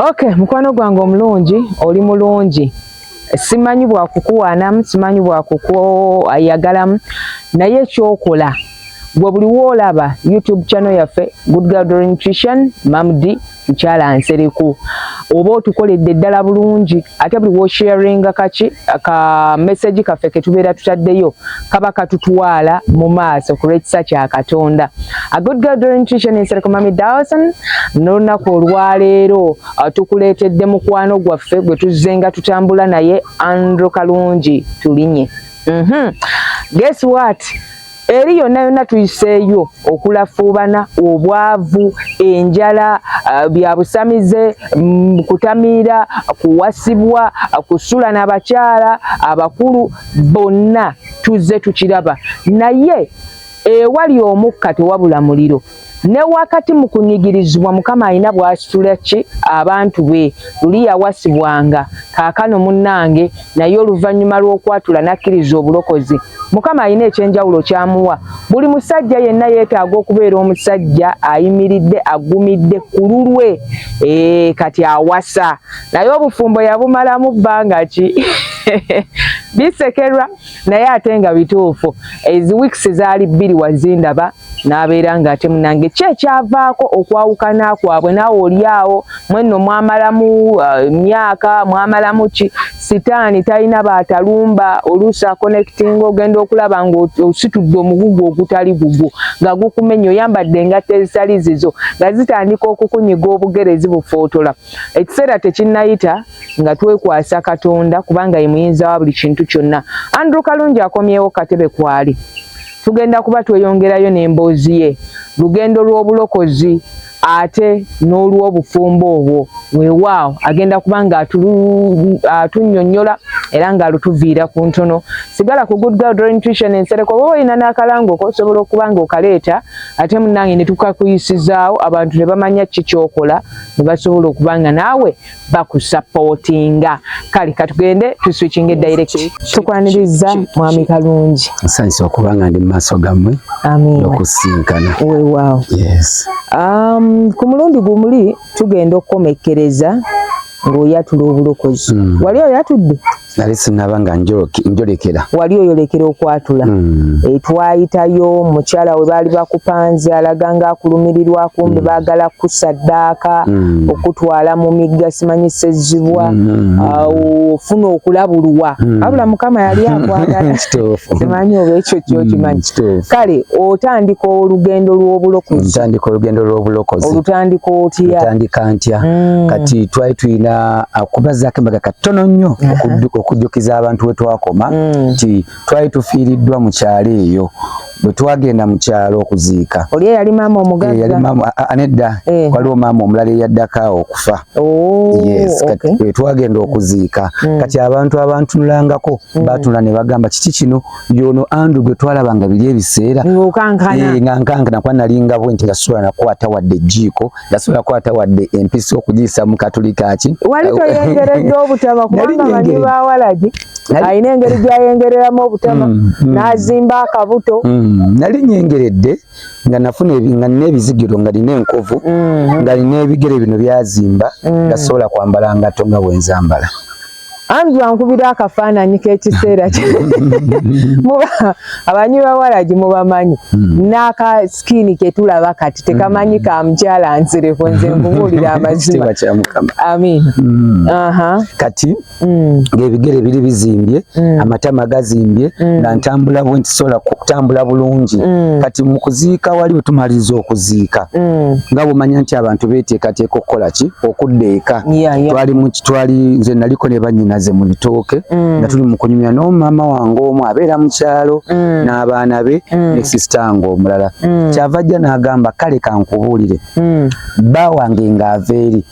Okay, mukwano gwange omulungi oli mulungi simanyi bwakukuwaanamu simanyi bwakukuayagalamu naye ekyokola gwe buli woolaba youtube channel yaffe good girl nutrition mamdi mukyala nsereku oba otukoledde ddala bulungi ate buli wosharinga kaki ka message kaffe ketubeera tutaddeyo kaba katutwala mu maaso ku lw'ekisa kya katonda a good girl during tuition is rekomami dawson n'olunaku olwaleero uh, tukuleetedde mukwano gwaffe gwe tuzzenga tutambula naye andrew kalungi tulinye mm -hmm. guess what eri yonna yonna tuyiseeyo okulafuubana obwavu enjala uh, bya busamize mm, kutamiira kuwasibwa kusula n'abakyala abakulu bonna tuzze tukiraba naye ewali omukka tewabula muliro ne wakati mu kunyigirizibwa mukama alina bwasitula ki abantu be luli yawasibwanga kaakano munnange naye oluvannyuma lw'okwatula n'akkiriza obulokozi mukama alina ekyenjawulo kyamuwa buli musajja yenna yeetaaga okubeera omusajja ayimiridde aggumidde ku lulwe ee kati awasa naye obufumbo yabumalamu bbanga ki bisekerwa naye ate nga bituufu ezi weeks zaali bbiri wazindaba n'abeera nga ate munange ki ekyavaako okwawukana kwabwe naawe olyawo mwenno mwamalamu uh, myaka mwamalamu ki sitaani talina baatalumba oluusi akonectinga ogenda okulaba ngaositudde omugugu ogutali gugwo nga gukumenya oyambadde engatto ezitali zizo nga zitandika okukunyiga obugere zibufootola ekiseera tekinnayita nga twekwasa katonda kubanga ye muyinza wa buli kintu kyonna andrew kalungi akomyewo katebe kwali tugenda kuba tweyongerayo n'emboozi ye lugendo lw'obulokozi ate n'olw'obufumbo obwo weewaawo agenda kuba nga atunnyonnyola era ng'alutuviira ku ntono sigala ku good girl drawing tuition ensereko oba olina n'akalangoko osobola okuba ng'okaleeta ate munnange ne tukakuyisizaawo abantu ne bamanya ki kyokola ne basobola okuba nga naawe bakusapootinga kale katugende tuswikinge direct tukwaniriza mwami kalungi nsanyusa okuba nga ndi mu maaso gammwe nokusinkana wewaawo um, ku mulundi gumuli tugenda okukomekkereza ng'oyatula obulokozi hmm. wali oyatudde mm. nali sinaba nga njolekera wali oyolekera okwatula mm. e, twayitayo mukyala we baali bakupanze alaga nga akulumirirwa kumbe mm. baagala kusaddaaka mm. okutwala mu migga simanyi sezzibwa mm. uh, ofuna okulabulwa mm. abula mukama yali akwagala simanyi oba ekyo kyokimanyi mm. kale otandika olugendo lw'obulokozi olutandika otya mm. kati twali tulina akubazaako embaga katono nnyo okujjukiza abantu we twakoma mm. nti twali tufiiriddwa mu kyalo eyo bwe twagenda mu kyalo okuziika oli eyali maama omugaaanedda eh, eh. waliwo maama omulala eyaddako awo okufa oh, we twagenda okuziika mm. kati abantu abantunulangako mm. baatula ne bagamba kiki kino yono andrew gwe twalaba nga biri ebiseera nga nkankana eh, kuba nali ngabwe nti nga sula nakwata wadde ejjiiko nasobola kwata wadde empisa okugiyisa mu katulika ki wali toyengeredde obutaba kubanga banyi ba walagi alina engeri gyayengereramu obutaba mm, mm. n'azimba akabuto mm, nali nyengeredde nga nafuna nga nina ebizigiro nga nina enkovu mm-hmm. nga nina ebigere bino byazimba mm. nga sobola kwambala ngato nga bwenzambala Andrew ankubira akafaananyi k'ekiseera kye muba abanywi bawalagi mubamanyi hmm. n'aka sikini ke tulaba kati tekamanyi hmm. ka mukyala nsereko nze nkubuulira amazima amin hmm. kati ng'ebigere biri bizimbye amatama gazimbye nga ntambula bwe ntisobola kutambula bulungi kati mu kuziika wali bwe tumaliriza okuziika nga bwomanya nti abantu beeteekateeka okukola ki okudda eka twali mu twali nze naliko ne bannyinaze mu bitooke mm. nga tuli mu kunyumya n'omumama wange omu abeera mu kyalo mm. n'abaana be mm. ne sisita nge omulala kyava ajja n'agamba kale kankubuulire bba wange ng'ava eri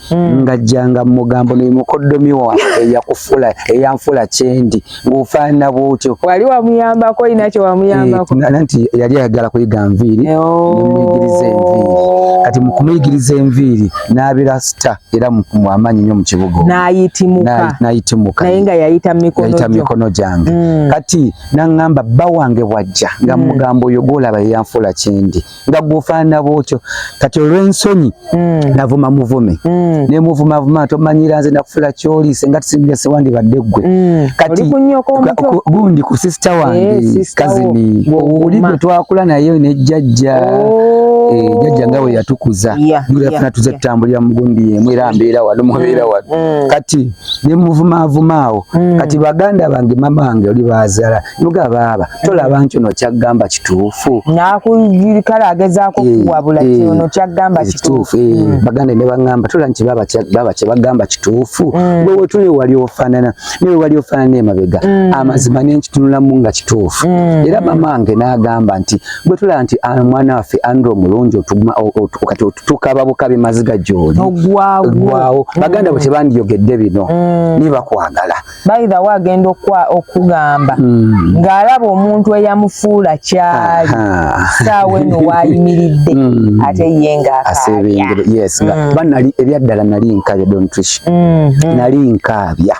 ng'ajjanga mu mugambo ne mukoddomi wange eyakufuula eyanfuula kyendi ng'ofaanana bwotyo wali wamuyambako olina kye wamuyambako eh, nanti yali ayagala kuyiga nviiri nemuyigiriza enviiri oh. kati mukumuyigiriza enviiri n'abeera sita era amaanyi nnyo mu kibuga nayitimuka naye nga yayita mumikono gyange mm. kati naŋŋamba bba wange bwajja nga mm. mugamba oyo gwolaba yeyanfuula kyendi nga gwofaanana bwotyo kati olw'ensonyi mm. navuma muvume mm. ne muvuma vuma tomanyira nze nakufula kyoli senga tusimbese wandibadde ggwe mm. kati gundi ku sisita wange eh, kazini oli gwe twakula naye ne jjajja oh. eh, jajja nga we yatukuza yafuna tuze tutambulira mu gundi yemu era mbeera wano mubeera mm. wano mm. kati ne muvuma avuma awo kati baganda bange mama wange oli baazala Luga baaba tolaba nti ono kyaggamba kituufu nakuyirikala agezaako eh, kuwabula ti eh, ono kyaggamba eh, kituufu mm. baganda ne baŋŋamba tola nti baaba kye bagamba kituufu mm. wewe tuli wali ofaanana naye wali ofaanana emabega mm. amazima nenkitunulamu nga kituufu era mama wange n'agamba nti bwe tulaba nti ah, mwana waffe andro omulungi kati otutukaba bukabi maziga gyoli ogwawo baganda bwe tebandiyogedde bino nibakwagala by the way agenda okugamba hmm. ng'alaba omuntu eyamufuula kyali saawa eno waayimiridde hmm. ate ye ngaabanali hmm. ebyaddala nali nkaabya dontrish nali nkaabya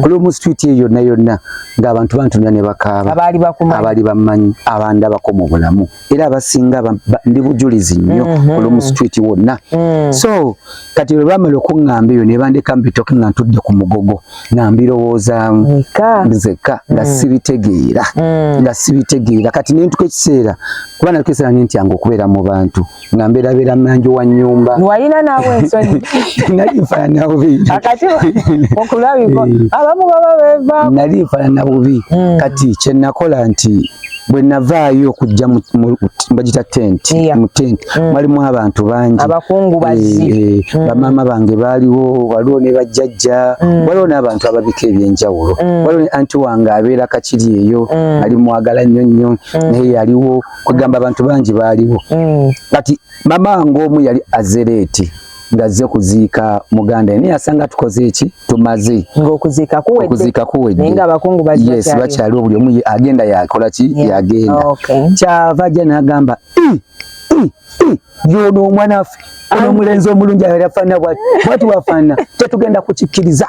kulwomu street eyo yonna yonna ng'abantu bantunula ne bakaaba abaali bamanyi abandabako mu bulamu era abasinga ndi bujulizi nnyo mhm. olumu street wonna mm. so kati lwe bamala okuŋŋamba eyo ne bandeka mbitoke nga ntudde ku mugogo nga mbirowoozaamu nzekka nga mm. sibitegeera mm. nga sibitegeera kati ne ntuka ekiseera kuba nalika ekiseera ne ntyanga okubeera mu bantu nga mbeerabeera manju wa nnyumba walina naawe ensonyi nali nfaanana bubi akati okulabiko eh. abamu baba beevaako nali nfaanana bubi kati kye nakola nti bwe navaayo okujja bagita tenti mu tenti mm. mwalimu abantu bangi abakungubazi eh, eh, mm. bamaama bange baaliwo waliwo ne bajjajja mm. waliwo n'abantu ababika ebyenjawulo waliwo ne anti wange abeera kakiri eyo ali mwagala nnyo nnyo naye yaliwo kwegamba abantu bangi baaliwo kati mama wange omu yali azereeti ngazze kuziika muganda naye asanga tukoze eki tumaze ng'okuziika kuwedde okuziika kuwedde naye ng'abakungu bakyaliwo yes bakyaliwo buli omu agenda yakola ki yagenda oh, kyava ajja n'agamba yono omwana waffe ono omulenzi omulungi afaana bwati bwati wafaana tetugenda kukikkiriza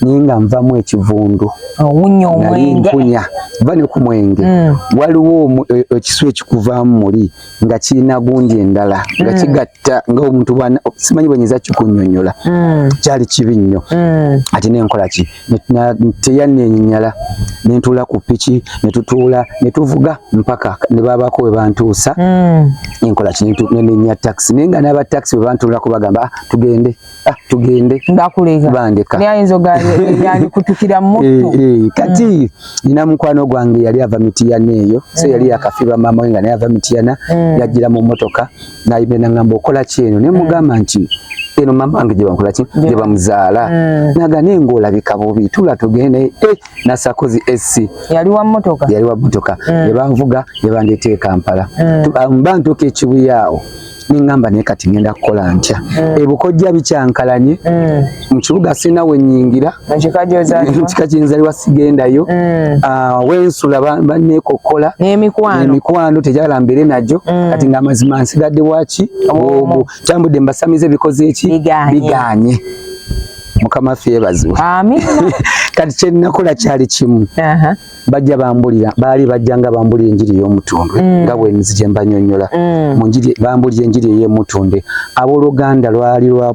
naye nga nvamu ekivundu nali mpunya va ne ku mwenge mm. waliwo e, ekisu ekikuvaamu muli nga kirina gundi endala nga mm. kigatta nga omuntu simanyi bwenyinza kikunyonyola mm. kyali kibi nnyo ate nenkola ki teyanenyala nentuula ku piki netutuula netuvuga mpaka nebabako webantuusa enkola ki nenenya taxi naye nga n'aba taxi webantuulako bagamba ah, tugende mm. Ah, tugende ndakuleka bandeka naye ayinza ogayandikutukira mumuttu eh, eh, kati mm. nina mukwano gwange yali ava mitiyana eyo so yali mm. yakafiba maama we nga naye ava mitiyana mm. yajjira mu mmotoka nayimbe nangamba okola ki eno naye mugamba nti eno mama wange gyebankola ki gyebamuzaala mm. naga naye ngaolabika bubi tula tugende e eh, nasakozi esi yali wa mmotoka yali wa mmotoka mm. nebanvuga nebandeeta e kampala mm. mba ntuuka ekibuya awo nengamba naye kati ngenda kukola ntya mm. ebukojja bikyankalanye mm. mu kibuga sirina wenyingira mukika kyenzaliwa sigendayo mm. ah, wensula banekokkola nemikwano tejala mbere najo kati nga amazima nsigadde waki obu tambudde mbasamize bikoze eki biganye mukama fye ebazibwe kati kyenakola kyali kimu bajja bambulira baali bajja nga bambulira enjiri y'omutundwe mm. nga bwenzi gye mbanyonyola mm. mu njiri bambulira enjiri ey'emutundwe abooluganda lwali lwa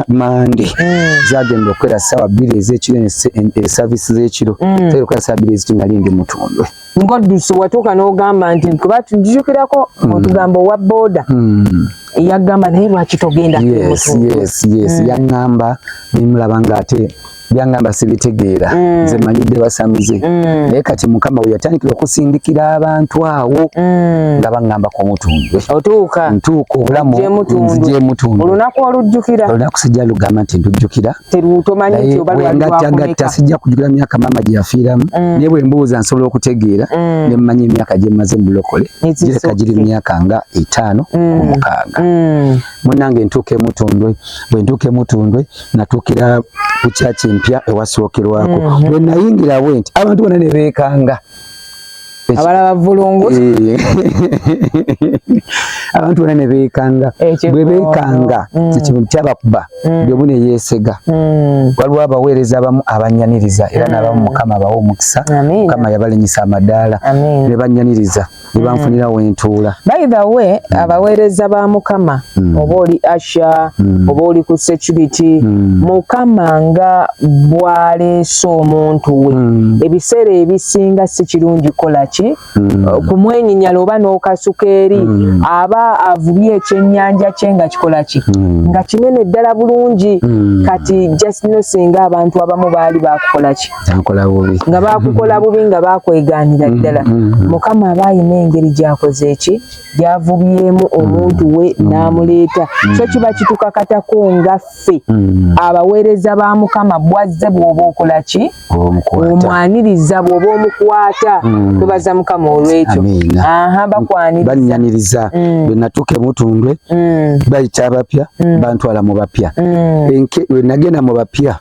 mande mm. zagenda okukwera ssaawa bbiri ez'ekiro esaviisi e, z'ekiro zaira okukwera ssaawa bbiri ez'ekiro nali ndi mutundwe ngoddusi watuuka n'ogamba nti kuba tujukirako otugamba owa booda yagamba naye lwaki togenda yes, yes, yes. yaŋŋamba nemulaba ng'ate byangamba sibitegeera mm. nze manyidde basamize mm. naye kati mukama weyatandikira okusindikira abantu awo mm. nga baŋŋamba ku mutundwe otuuka ntuuka obulamu nzija emutundwe olunaku olujjukira olunaku sijja lugamba nti ndujjukira teruutomanyingattagatta sijja kujjukira myaka maama gye yafiiramu naye bwe mbuuza nsobola okutegeera ne mmanya emyaka gye mmaze mu bulokole gireka giri myaka nga etaano ku mukaaga munnange ntuuka emutundwe bwe ntuuka emutundwe natuukira ku kyaki empya ewasookerwako mhm. bwe nayingira bwe nti abantu bona ne beekanga abalaba vulungu eh. abantu bona ne beekanga bwe beekanga mm. ekintu kyabakuba mm. byomu ne yeesega mm. waliwo abaweereza abamu abanyaniriza era n'abamu mukama abawa omukisa mukama yabalinyisa amadaala ne banyaniriza ne banfunira mm. wentuula by the way mm. abaweereza ba mukama mm. oba oli asha mm. oba oli ku security mm. mukama nga bwaleese omuntu we mm. ebiseera ebisinga si kirungi kukola ki mm. Uh, kumwenyinyala oba n'okasuka eri mm. aba avubye ekyennyanja kye nga kikola ki mm. nga kinene ddala bulungi mm. kati just no singa abantu abamu baali bakukola ki ankola bubi nga bakukola bubi nga bakweganira mm, ddala mm, mm. mukama aba ayina engeri gyakoze eki gyavubyemu omuntu we n'amuleeta so kiba kitukakatako nga ffe abaweereza ba mukama bwazze bwoba okola ki omwaniriza bwoba omukwata tubaza mukama olwekyo aha bakwaniriza bwenatuuka emutundwe bayita abapya bantwala mu bapya nagenda mu bapya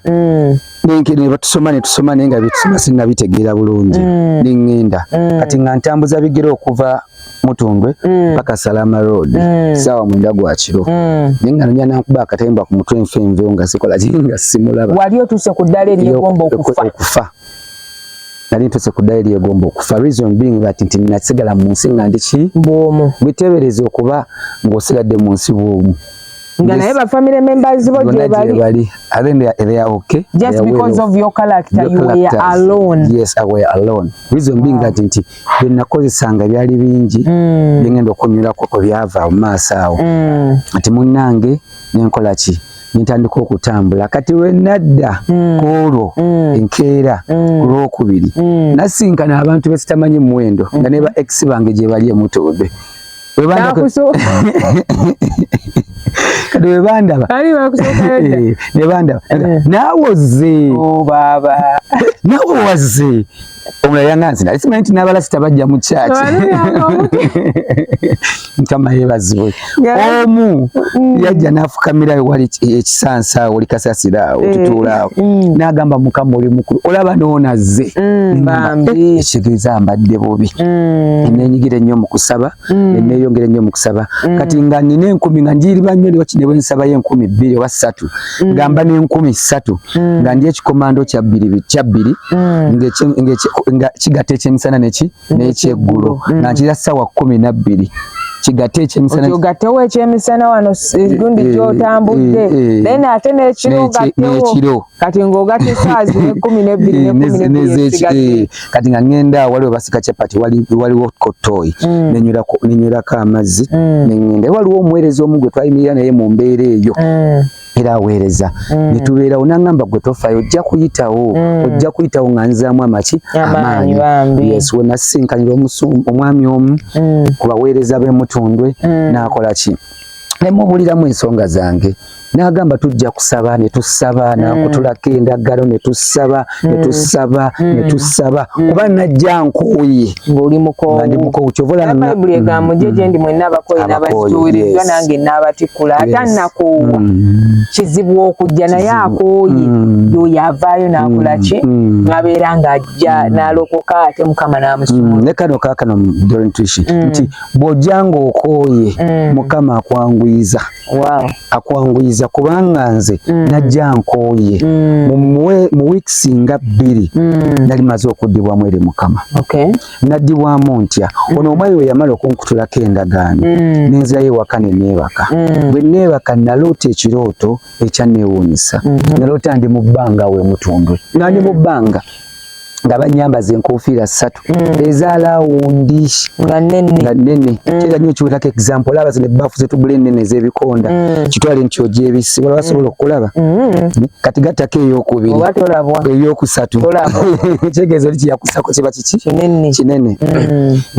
nebatusoma netusoma naye nga byetusoma sinabitegeera bulungi mm. neŋŋenda mm. kati nga ntambuza bigere okuva mutundwe mm. paka salama road mm. sawa mwenda gwa kiro mm. ninga nanya nankuba akatemba ku mutwe nfe nve nga sikola jinga simulaba wali otuse ku dale eri egomba okufa okufa nali ntuse ku dale eri egomba okufa reason being that nti nasigala mu nsi nga ndi ki bwomu bitebereza okuba ng'osigadde mu nsi bwomu nga naye ba family members bo je bali i think they are, they are okay just are because well of your character your you characters. were alone yes i were alone reason wow. being that nti bina kozesanga byali bingi mm. bingendo kunyula ko byava mu maaso awo mm. ati munange nenkola ki nintandika okutambula kati lwenadda mm. kuolwo mm. enkeera mm. kulwokubiri mm. nasinkana abantu besitamanyi muwendo mm. nga neba ex bange gyebali emutoobe webanda kati webandaba ali bakusooka yadda eh, nebandaba eh. naawe ozze oh, baaba naawe wazze omulala yanganzi nali simanyi nti n'abalasita bajja mu kyaki mukama yebazibwe omu mm. yajja n'afukamira wali ekisansa awo oli kasasira awo eh, tutuula awo mm. n'agamba mukama oli mukulu olaba noonazze mm, ekitegeeza mbadde ensobi mm. nenyigira ennyo mu kusaba mm. neneyongera ennyo mu kusaba mm. kati nga nina enkumi nga njiriba nnyo niwaki ne bwensabayo enkumi bbiri oba ssatu gamba n'enkumi ssatu nga ndi ekikomando kyabbiri kyabbiri nga kigatta ekyemisana neki n'ekyeggulo nga nkira ssaawa kkumi nabbiri kigate ekyemisana ogatewo ekyemisana wano eh, gundi eh, gyotambudde eh, then ate nekiro gatewo kati ng'ogatta esaazi nekumi nebbiri eh, kati nga ngenda wali webasika chapati waliwo kotoyi mm. nenywelako amazzi mm. nengenda waliwo omuweereza omu gwe twayimirira naye mu mbeera eyo mm. era aweereza netubeerawo nangamba gwe tofayo ojja kuyitawo ojja kuyitawo nga nzaamu amaki amaanyi yes wenasisinkanira omwami omu ku baweereza b'emutundwe nakola ki nemubuliramu ensonga zange n'agamba tujja kusaba ne tusaba mm. nakutulako endagalo ne tusaba ne mm. tusaba mm. ne tusaba kuba najja nkooye ng'oli mukoondi mukoowu kyovabayibuli egambo gye gyendi mwenna abakooye n'abakituuliddwa nange n'abatikkula ata nakoowa kizibu okujja naye akooye yoyo avaayo n'akola ki abeera ng'ajja n'alokoka ate mukama n'amusuma ne kano kaakano dorentuishi nti bw'ojja ng'okooye mukama akwanguyiza mm. wow. akwanguyiza kubanga nze mm. najja nkooye mm. mu weeks nga bbiri mm. nali maze okuddibwamu eri mukama okay. naddibwamu ntya mm. ono omwayi we yamala okunkutulako endagaano mm. nenzirayo ewaka ne neebaka mm. bwe neebaka naloota ekirooto ekyanneewuunyisa mm -hmm. naloota ndi mu bbanga we mutundwe nga ndi mu mm. bbanga nga banyambaza enkofiira ssatu mm. eza lawundi nga nnene mm. kyera nyo kiwetako example olaba zino ebbafu zetugula ennene ez'ebikonda mm. kitwale nti ogyebisi wala basobola okukulaba kati gattako eyokubiri eyokusatu kitegeeza oli kiyakusako kiba kiki kinene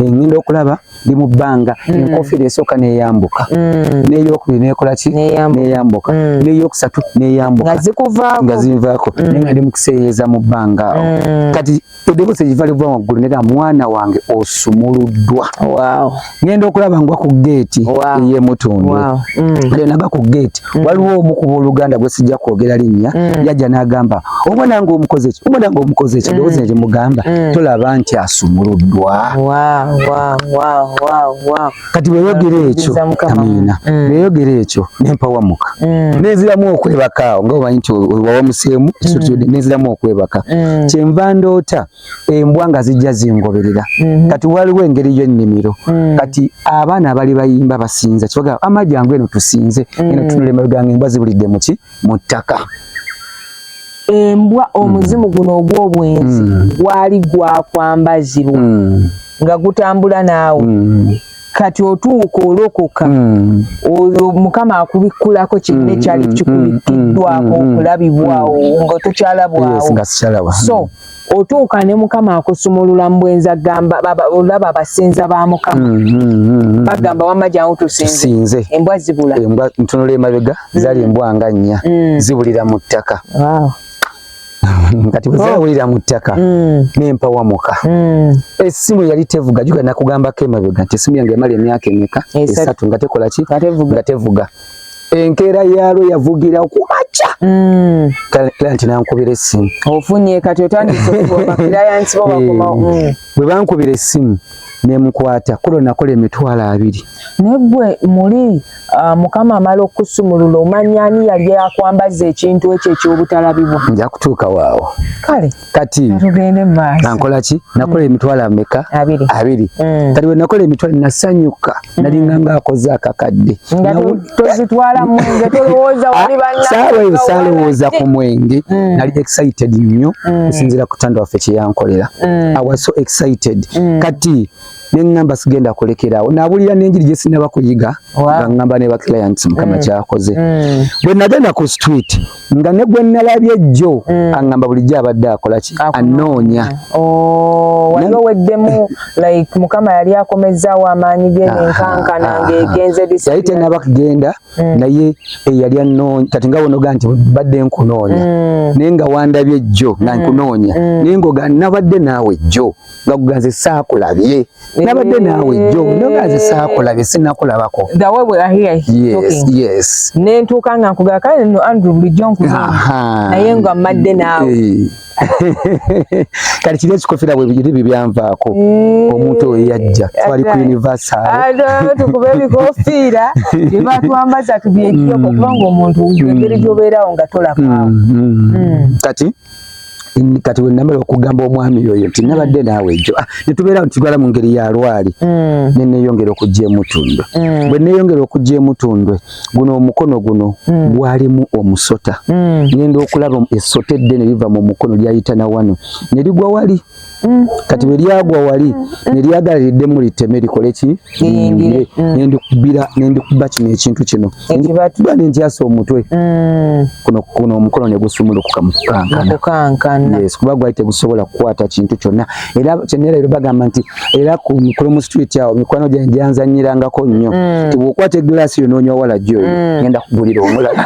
ngenda okulaba ndi mu bbanga mm. enkofiira esooka neyambuka mm. neyokubiri nekola ki neyambuka mm. neyokusatu neyambuka nga zinvaako naye nga ndi mukuseeyeeza mu bbanga kati eddoboosi egiva liva waggulu nega mwana wange osumuluddwa ngenda okulaba ngwa ku geeti eyemutundu naba ku geeti Mm. waliwo omu kuba oluganda gwe sijja kwogera linnya mm. yajja n'agamba omwana nga omukoze ki omwana nga omukoze ki eddoboozi mm. ne limugamba mm. tolaba nti asumuluddwa kati bweyogera ekyo amiina mm. bweyogera ekyo nempawamuka mm. nenziramu okwebakaawo nga omanyi nti wawamuseemu mm. nenziramu okwebaka mm. kyenva ndoota embwa nga zijja zingoberera mm -hmm. kati waliwo engeri yennimiro mm -hmm. kati abaana abali bayimba basinza kibaga amaji angu eno tusinze mm -hmm. eno tunule mabeganga embwa zibulidde muki mu ttaka embwa omuzimu mm. guno ogw'obwenzi mm. gwali gwakwambazirwa mm. nga gutambula naawe mm. kati otuuka olokoka hmm. oyo mukama akubikkulako kinne hmm, kyali hmm, kikubikkiddwako okulabibwawo nga tokyalabwawo so otuuka ne mukama akusumulula mbwenza gamba olaba abasinza ba mukama mm, mm, mm, bagamba wamma jangu tusinze embwa zibula ntunula emabega zali embwa nga nnya zibulira mu ttaka kati bwezawulira oh. mu ttaka nempawamuka esimu yali tevuga juga nakugambako emabega nti esimu yange emala emyaka emeka esatu nga tekola ki nga tevuga enkeera yaalwo yavugira ku makya mm. kale nti nankubira essimu ofunye kati otandisebakirayansi bobakomawo eh, mm. bwe bankubira essimu nemukwata kulo nakola emitwalo abiri naye gwe muli ah, mukama amala okukusumulula omanya ani yali akwambaza ekintu ekyo ekyobutalabibwa nja kutuuka waawo kale kati nankola ki nakola mm. emitwalo ameka abiri mm. kati bwe nakola emitwalo nasanyuka mm. nalinga nga akoze akakadde saawa eyo saalowooza ku mwenge nali excited nnyo osinzira kutanda waffe kyeyankolera awaso excited kati ne ngamba sigenda kulekerawo nabulira n'enjiri gye sinaba kuyiga nga ngamba ne ba clients mukama mm. kyakoze mm. bwe nagenda ku street nga ne gwe nalabye jjo mm. angamba bulijjo abadde akola ki anoonya oh, waliwo weddemu like mukama yali akomezzaawo amaanyi ge nenkankana ngegenze yali tenaba kugenda naye eyali eh, anoonya kati nga wonoga nti badde nkunoonya naye nga wandabye jjo nga nkunoonya naye ngoga nabadde naawe jjo nga gugaze saakulabye nabadde naawe jjo nogaze saakulabye sinakulabako nentuuka nga nkugaa kale no andrew bulijjo nkuza naye nga mmadde naawe eh. kati kiri ekikofira bwebiri bibyanvaako mm. omuntu oyo yajja twali ku universaltukuba ebikofiira byebatwambaza tubyejjoko mm. kubanga omuntu engeri gyobeerawo nga tolabaawo mm, kati kati wenamala okugamba omwami oyo nti nabadde naawe ejo ah, netubeera ntitwala mu ngeri ya lwali mm. neneyongera okujja emutundwe mm. bwe neyongera okujja emutundwe guno omukono guno mm. gwalimu omusota ngenda okulaba esota eddene liva mu mukono lyayita na wano ne ligwa wali Mm. kati bwe lyagwa wali mm. ne lyagala liddemu liteme likole ki liyingire mm. nendikubira nendikuba kino ekintu kino nendikuba nentyasa omutwe kuno kuno omukono ne gusumulukuka mu kukankana yes kuba gwali tegusobola kukwata kintu kyonna era kyenera ero bagamba nti era ku mikolo mu street awo mikwano gyange gyanzanyirangako nnyo nti bwokwata eglaasi yo noonya owala gyoyo ngenda kugulira omulala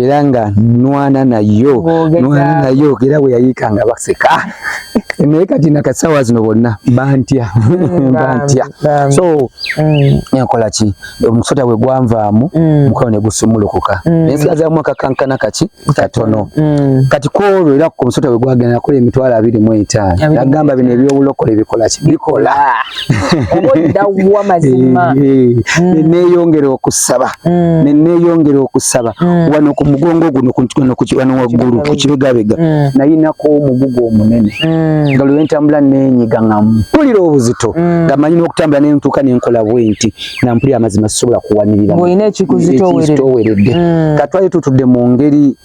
era nga nwana nayo nwana nayo era bwe yayiika nga baseka naye kati nakasawa zino bonna bantya mm, bantya so mm. enkola ki omusota bwe gwanvaamu mm. mukono ne gusumulukuka naye sigazamu akakankana kaki katono kati kwolwo era ku musota bwe gwagenda nakola emitwalo abiri mu etaano nagamba bino ebyobulokole bikola ki bikola obodda wa mazima eh, eh. mm. neneyongera okusaba mm. neneyongera okusaba mm. wano ku mugongo guno wano waggulu ku kibegabega nayinako omugugu omunene nga lwe ntambula nenyiga nga mpulira obuzito nga manyi n'okutambula nentuuka nenkola bwenti nga mpulira amazima sisobola kuwanirira olina ekikuzitoweredde katwali tutudde mu ngeri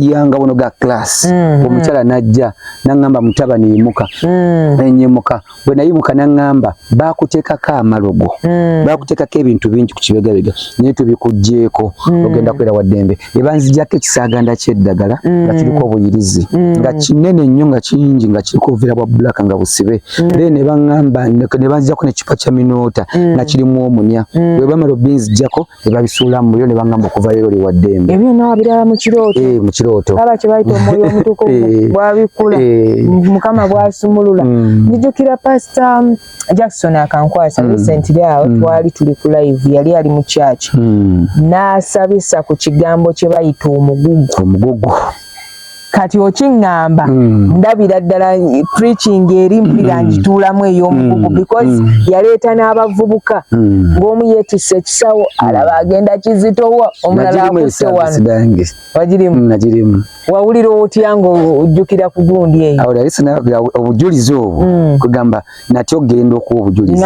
yanga wono ga class mm, mm. omukyala mm. najja nangamba mutabani yimuka mm. enyimuka bwe nayimuka naŋŋamba baakuteekako amalogo hmm. baakuteekako ebintu bingi ku kibegabega naye tubikuggyeeko hmm. ogenda kwera wa ddembe ne banzijako ekisaaganda ky'eddagala hmm. nga kiriko obuyirizi nga kinene nnyo nga kingi nga kiriko obuveera bwa bbulaka nga busibe then ne baŋŋamba ne banzijako nekipa kya minoota nga kirimu omunya bwe bamala obinzijako ne babisuula mu muliro ne bangamba okuva leero li waddembe ebyo nabiraba mu kirooto eh, mu kirooto aba kye bayita omwoyo omutukuvu eh, bwabikula eh. mukama bwasumulula mm. njijukira pasita um, jackson akankwasa mm. recently awo mm. twali tuli ku live yali ali mu kyaki n'asabisa ku kigambo kye bayita omugugu omugugu kati okingamba mm. ndabira ddala preaching eri mpulira mm. ngituulamu ey'omugugu mm. because mm. yaleeta n'abavubuka mm. ng'omu yeetisse ekisawo mm. alaba agenda kizitowa omulala akutte wano wagirimu mm, nagirimu wawulira otya ng'ojjukira ku gundi eyo obujulizi obwo mm. kugamba mm. nati ogenda okuwa obujulizi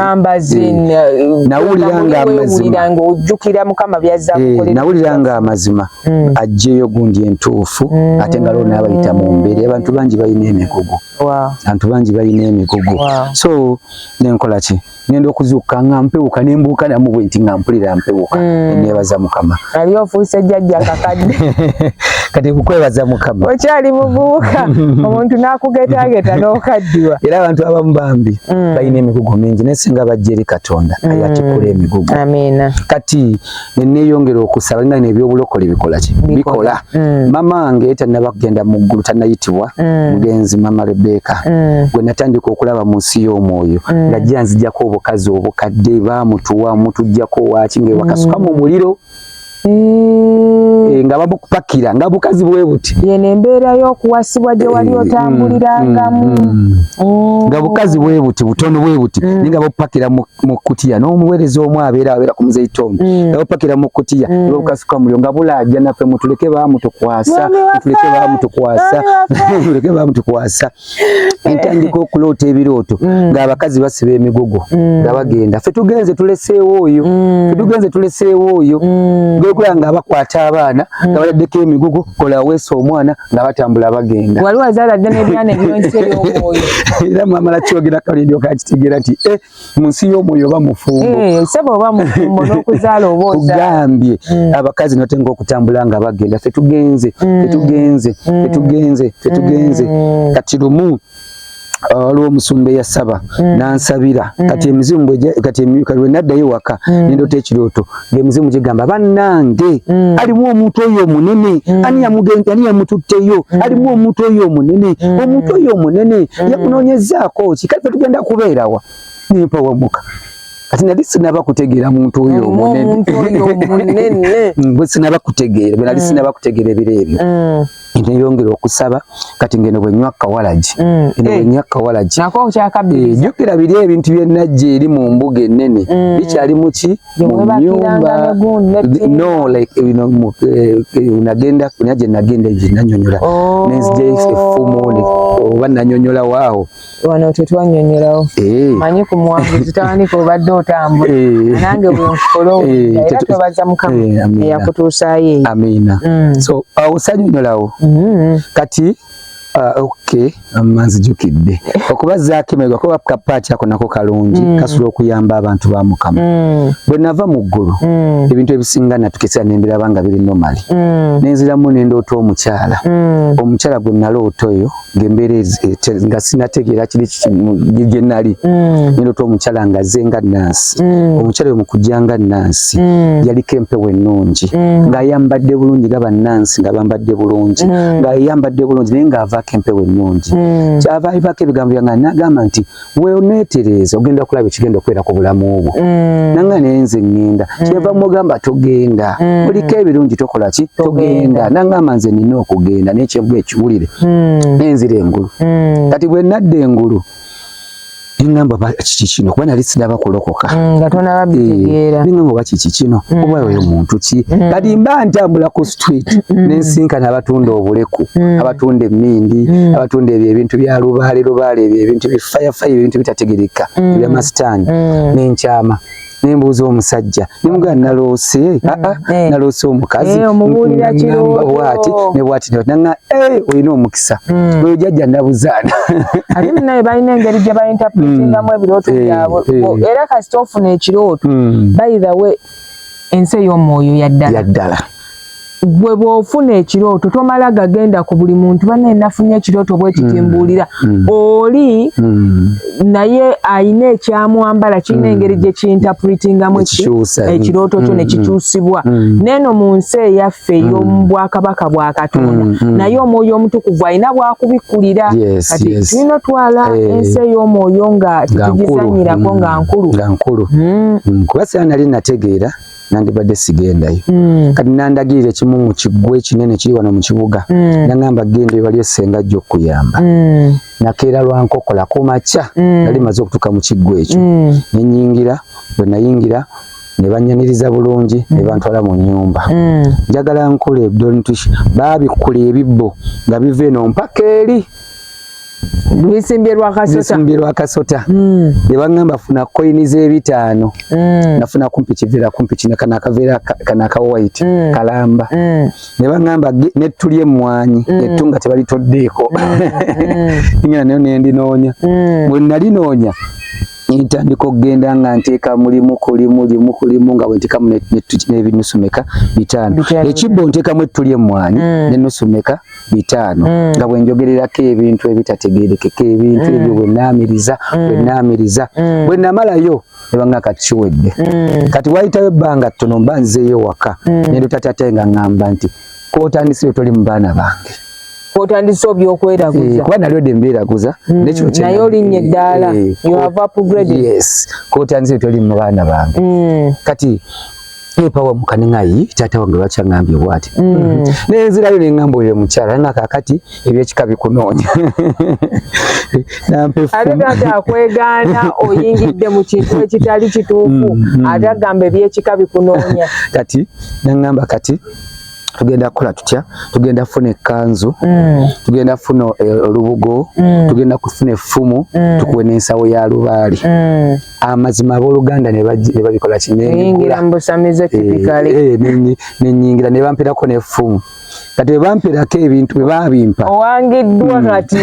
eh, nawulira nga amazima eh, nawulira nga amazima hmm. ajjeyo gundi entuufu hmm. ate nga loo nabayita mu mbeera abantu bangi balina emigugu abantu bangi balina emigugu so nenkola ki ngenda okuzuuka nga mpewuka nembuuka namu bwenti nga mpulira mpewuka hmm. nebaza mukama Nali ofuuse jjajja kakadde. Kati kukwebaza mukama. Okyali muvubuka omuntu n'akugeetageeta n'okaddiwa. Era abantu abamu bambi mm. balina emigugu mingi naye singa bajja eri Katonda mm. ayatikula emigugu. Amiina. Kati ne neeyongera okusaba nga n'ebyobulokole bikola ki? Bikola. mm. mama nge tanaba kugenda mu ggulu tanayitibwa mm. mugenzi mama Rebeka mm. gwe natandika okulaba mu nsi y'omwoyo mm. nga jja nzijako obukazi obukadde bamutuwa mutujjako waki nga ewakasuka mm. mu muliro mm. e, nga babukupakira nga bukazi bwe buti yene embeera y'okuwasibwa gye wali eh, otambulirangamu mm, mm, mm. oh. nga bukazi bwe buti butono bwe buti mm. nga babupakira mu mu kutiya n'omuweereza omu abeera abeera ku muzeyi Tom mm. nawe pakira mu kutiya mm. lwokasuka mulyo nga bulaajja naffe mutuleke baamutukwasa mutuleke baamutukwasa mutuleke baamutukwasa entandika okuloota ebirooto mm. ng'abakazi basiba emigogo nga bagenda ffe tugenze tuleseewo oyo ffe tugenze tuleseewo oyo gwekulaba nga abakwata abaana nga baladdeko emigogo kola weesa omwana nga batambula bagenda wali wazaala dda nebyana ebyonsi ebyomwoyo era mwamala kyogera kalindi okakitegera ti e eh, mu nsi y'omwoyo oba mufumbo eh, sebo oba mufumbo n'okuzaala oba ogambye mm. abakazi note ngaokutambula nga bagenda fetugenze fetugenze fetugenze fetugenze kati lumu waliwo omusumba eyasaba mm. nansabira mm. kati emizimu kati lwe naddayo waka mm. nendoota ekirooto ngemizimu gigamba bannange alimu omuntu oyo omunene ani yamututteyo alimu omuntu oyo omunene omuntu oyo omunene yakunoonyezaako ki kati fe tugenda kubeerawa nempawamuka kati nali sinaba kutegeera muntu oyo omunene bwe sinaba kutegeera bwe nali sinaba kutegeera ebiro ebyo neyongera okusaba kati ngeno bwenywa kawalagi mm. eno eh. bwenywa kawalagi eh, jukira biri ebintu byenajja eri mu mbuga enene mm. bikyali muki munyumba no like eh, bino unagenda kunyaje nagenda eje nanyonyola oh. nenzija efumu oba nanyonyola waawo wano tetwanyonyolawo eh. manyi ku muwanguzi tawandika obadde otambula eh. nange bwenkola eh, era twebaza mukama eyakutuusaayo eyo amiina mm. so osanyonyolawo mm-hmm. kati Ah, ok manzijukidde okuba zakimega kuba kapaati ako nako kalungi mm. kasobola okuyamba abantu ba mukama mm. bwe nava mu ggulu mm. ebintu ebisinga natukesera nembiraba nga biri nomali nenziramu nendoota omukyala omukyala gwe naloota oyo ngembeera nga sinategeera kiri gye nali mm. nendota omukyala nga ze nga nansi mm. omukyala oyo mukujja nga nansi mm. yaliko empewo ennungi ng'ayambadde bulungi nga bannansi nga bambadde bulungi ng'ayambadde bulungi naye ng'avaako empewo ennungi kyava ivako ebigambo byange nagamba nti weoneetereeza ogenda kulaba ekigenda okubeera ku bulamu bwo mm. nanga naye nze ŋŋenda mm. kyeva mugamba togenda mm. oliko ebirungi tokola ki togenda nangamba nze nina okugenda naye kyeva ekiwulire nenzira engulu kati bwe nadda engulu nengamba kiki kino kuba nali sinaba kulokoka mm, nga tonababitegeera eh, nengamba oba kiki kino mm. oba oyo muntu ki mm. kati mba ntambula ku street mm. nensinkana abatunda obuleku mm. abatunda emindi mm. abatunda ebyo ebintu bya lubaale lubaale ebyo ebintu bi fire fire ebintu bitategereka mm. ebya masitani mm. nenkyama nembuuza omusajja nemugana naloose mm. aa ah, ah, eh. naloose omukazi eh, bwati nebwati nanga eh, olina omukisa mm. oyo jajja nabuzaana ate munaye balina engeri gye bayintapulitingamu mm. ebirooto byabwe era kasita ofuna ekirooto by the way ensi ey'omwoyo yaddala yaddala gwe bwofuna ekirooto tomala gagenda ku buli muntu banaye nafunye ekirooto bwekitimbuulira mm. mm. oli mm. naye alina ekyamwambala kirina mm. engeri gyekintapritingamu ekirooto kyo mm. nekikyusibwa mm. neeno mu nsi eyaffe yaffe mm. ey'omu bwakabaka bwa katonda mm, mm. naye omwoyo omutukuvu alina bwakubikkulira kati tulina otwala eh. ensi ey'omwoyo nga tetugizanyirako nga nkulu nga nkulu kuba sira nali nategeera nandibadde sigendayo mm. kati nandagirira ekimu mu kiggwa ekinene kiri wano mu kibuga mm. nangamba genda ebali esenga ajja okukuyamba mm. nakeera lwa nkokola ku makya mm. nali maze okutuuka mu kiggwa ekyo mm. nenyingira bwe nayingira ne banyaniriza bulungi ne bantwala mu nnyumba mm. njagala nkole dontish baabikkula ebibbo nga biva eno mpaka eri bisimbye lwa kasota mm. ne baŋŋamba funa koyini z'ebitaano mm. nafuna kumpi kiveera kumpi kino kana akaveera kana aka white kalamba ne baŋŋamba nettu ly'emmwanyi ettu nga tebalitoddeeko ngena nayo nendinoonya bwe nali noonya ntandika okugenda nga nteeka mulimu kulimu limu kulimu nga bwentekamu nebinusu meka bitaano ekibbo ntekamu ettuli emmwanyi mm. nenusu meka bitaano mm. nga bwenjogererako ebintu ebitategerekeka ebintu mm. ebyo bwenaamiriza bwenaamiriza bwenamalayo ebanga kati kiwedde kati wayitawo ebbanga ttono mba nzeeyo waka nendota tatae nga ŋŋamba nti kotandise otoli mu baana bange otandise obyokweeraguza eh, kuba nali odde mbeeraguza mm, naye olinnye eddaala eh, eh, kotandise otoli mu baana bange mm. kati epawa mukane ngayi tata wange bakyangambye bwati mm. naye nzirayo nengamba oyo mukyala na kakati ebyekika bikunoonya ate taata akwegaana oyingidde mu kintu ekitali kituufu mm, mm. ate agamba ebyekika bikunoonya kati nengamba kati tugenda kukola tutya tugenda kufuna ekkanzu mm. tugenda kufuna eh, olubugo mm. tugenda kufuna effumu mm. tukuwe n'ensawo ya lubaali amazima abooluganda ne babikola kinenyingira eh, eh, ne bamperako n'effumu kati bebamperako ebintu bebabimpa owangiddwa hmm. kati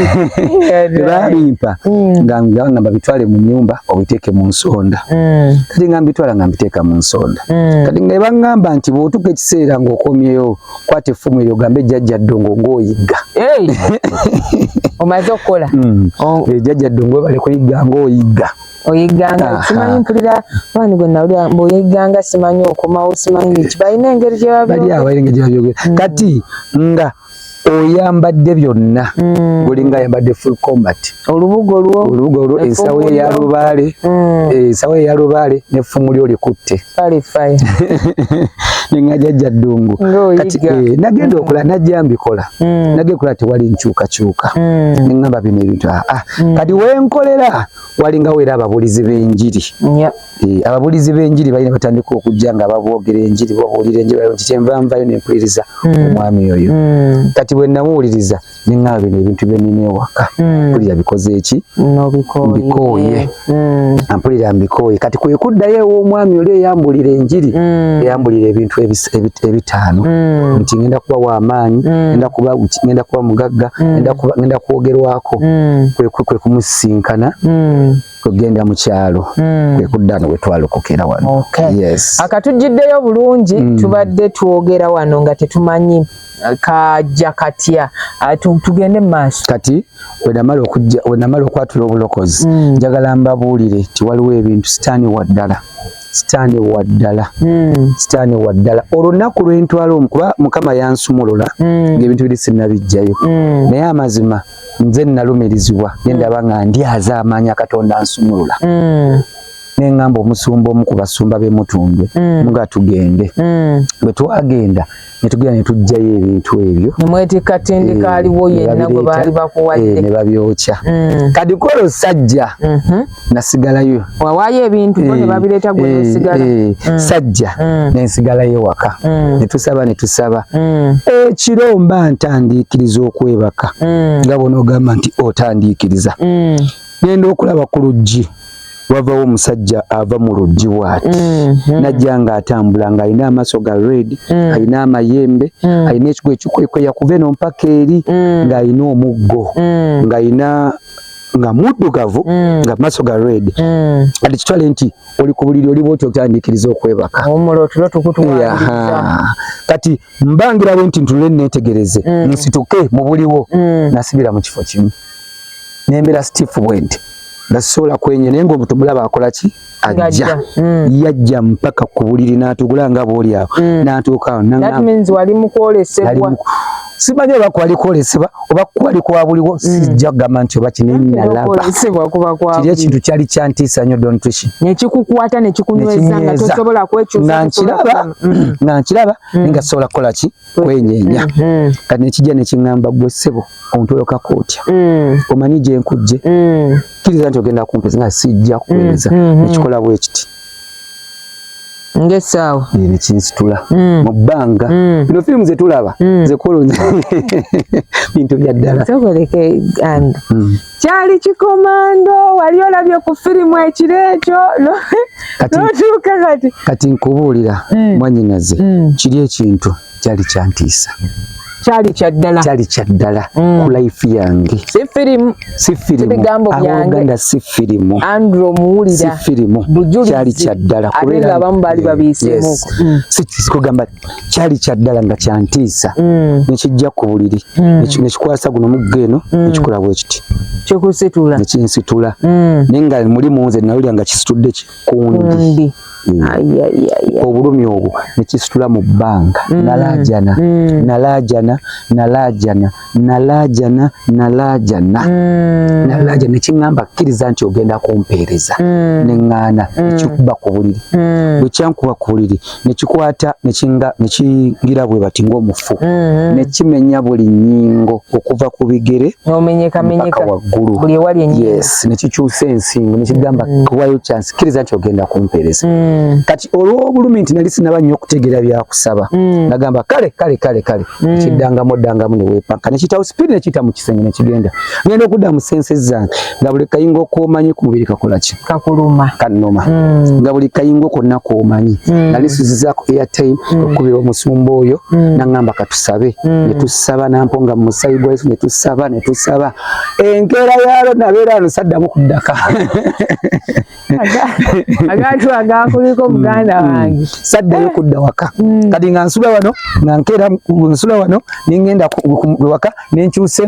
bebabimpa hmm. nga ngamba bitwale mu nyumba obiteeke mu nsonda hmm. kati nga mbitwala nga mbiteeka mu nsonda mm. kati nga ebangamba nti bwotuka ekiseera ngaokomyeyo kwata effumu eryo gambe ejjajja ddongo ngaoyigga omaze okukola mm. oh. ejjajja ddongo ebale kuyigga ngaoyigga oyigganga simanyi mpulira abaani gwe nawulira mbu oyigganga simanyi okomawo simanyi biki balina engeri gyebabyogera mm. kati nga oyambadde byonna mm. olinga ayambadde full combat olubugo lwo olubugo lwo ensawo ye ya lubaale mm. eh, ensawo ye ya lubaale n'effumu lyo likutte nenga jajja ddungu kati eh, nagenda okola mm. najja mbikola nagenda kola tewali nkyukakyuka neŋamba bino ebintu aa ah, ah. kati wenkolera walinga wera ababulizi b'enjiri Eh, ababulizi b'enjiri balina batandika okujja nga babwogera enjiri babuulira enjiri nti kyenva nvayo nempuliriza hmm. omwami oyo hmm. kati bwe namuwuliriza neŋŋaba bino ebintu byenina ewaka hmm. mpulira bikoze eki mbikooye ampulira mbikooye kati kwe kuddayo ew'omwami oli eyambulira enjiri eyambulira ebintu ebitaano nti ŋenda kuba w'amaanyi ŋenda kuba ŋenda kuba mugagga ŋenda kuba ŋenda kwogerwako kwe kumusisinkana kugenda mu kyalo mm. kwe kudda no wetwalokokera wano okay. yes. akatujjiddeyo bulungi mm. tubadde twogera wano nga tetumanyi uh, kajja katya uh, tugende mu maaso kati wenamala okwatula obulokozi mm. njagala mm. mbabuulire nti waliwo ebintu sitaani waddala sitaani waddala mm. sitaani waddala olunaku lwentwala omu kuba mukama yansumulula mm. ngaebintu biri sinabijjayo mm. naye amazima mm. nze nalumirizibwa nendaba mm. nga ndyaza amaanya katonda nsumulula mm. nengamba omusumba omu ku basumba bemutundwe mm. nga tugende mm. bwe twagenda netugenda netugjayo ebintu ebyo nemwetikka tindika eh, aliwo yenna gwe baali bakuwadde eh, ne babyokya mm. kadikolo sajja mm -hmm. nasigalayo wawaayo ebintu bo ne eh, babireeta gwe eh, nesigala eh, mm. sajja mm. nensigalayo waka mm. ne tusaba ne tusaba ekiro mba ntandiikiriza okwebaka nga bona ogamba nti otandiikiriza genda okulaba ku luggi wavawo omusajja ava mu luggi waati mm-hmm. najja nga atambula nga alina amaaso ga red mm. alina amayembe mm. alina ekigo ekikwekweya kuva eno mpaka eri mm. ng'alina omuggo ng'alina nga muddugavu mm. nga maso ga red mm. ati kitwale nti oli ku buliri oli bwoti otandikiriza okwebaka kati mbangira bwe nti ntulule neetegereze mm. nsituke mu buliwo mm. nasibira mu kifo kimu nembeera sitifu bwenti nga sisobola kwenye naye ngaomuntu mulaba akola ki ajja mm. yajja mpaka ku buliri n'atugula nga bw'oli awo mm. n'atuuka awo nali mu kwolesebwa simanyi oba kwali kwolesebwa oba kwali kwa buliwo mm. sijja kugamba nti oba kinenalabakiri ekintu kyali kyantiisa nnyo dontrishi nekikukwata nekikunyweza nga tosobola kwekyusa nga nkiraba nga sobola kukola ki kwenyenya mm-hmm. kati nekijja nekiŋamba gwe ssebo ontolokako otya mm. omanyi gyenkujje mm. kiriza nti ogenda kumpeza nga sijja kuweza mm-hmm. nekikola bwekiti ngesaawa nekinsitula mm. mu bbanga bino firimu zetulaba zekolonya bintu byaddala kyali kikomando wali olabye ku firimu ekiro ekyo notuuka kati kati nkubuulira mm. mwanyinaze mm. kiri ekintu kyali kyantiisa kyali kyaddala kyali kyaddala mm. ku life yange si firimu si firimu ebigambo byange si firimu andro muwulira si firimu bujulizi kyali kyaddala kubera abamu bali babiisemu sikugamba yes. kyali kyaddala nga kyantiisa mm. nekijja ku buliri mm. nekikwasa guno mugga eno mm. nekikola bwekiti kikusitula nekinsitula naye nga mulimu nze nawulira nga kisitudde kikundi obulumi obwo nekisitula mu bbanga nalajana nalajana nalajana nalaajana nalaajana mm. nalaajana nekiŋŋamba kkiriza nti ogenda kumpeereza mm. neŋŋaana mm. nekikuba ku buliri mm. bwe kyankuba ku buliri nekikwata nekingira bwe bati ng'omufu mm -hmm. nekimenya buli nnyingo okuva ku bigere mpaka waggulu yes nekikyusa ensingo nekigamba mm. kuwayo kyansi kkiriza nti ogenda kumpeereza mm. kati olw'obulumi nti nali sinaba nnyo okutegeera byakusaba mm. nagamba kale kale kale kale Mm. kiddangamu oddangamu ne weepakka ne kitawo sipiidi ne kiyita mu kisenge ne kigenda ngenda okudda mu sense zange nga buli kayingo okoomanyi ku mubiri kakola ki kakuluma kannuma mm. nga buli kayingo konna koomanyi mm. nali suzizaako airtime mm. okukubira omusumba oyo mm. naŋŋamba katusabe mm. ne tusaba nampo nga mu musayi gwa yesu ne tusaba ne tusaba enkeera yaalo nabeera ano saddamu kuddaka agaatu agakuliko mm. muganda mm. wange saddayo eh. kudda waka mm. kati nga nsula wano nga nkeera nsula wano nengenda waka nenkyuse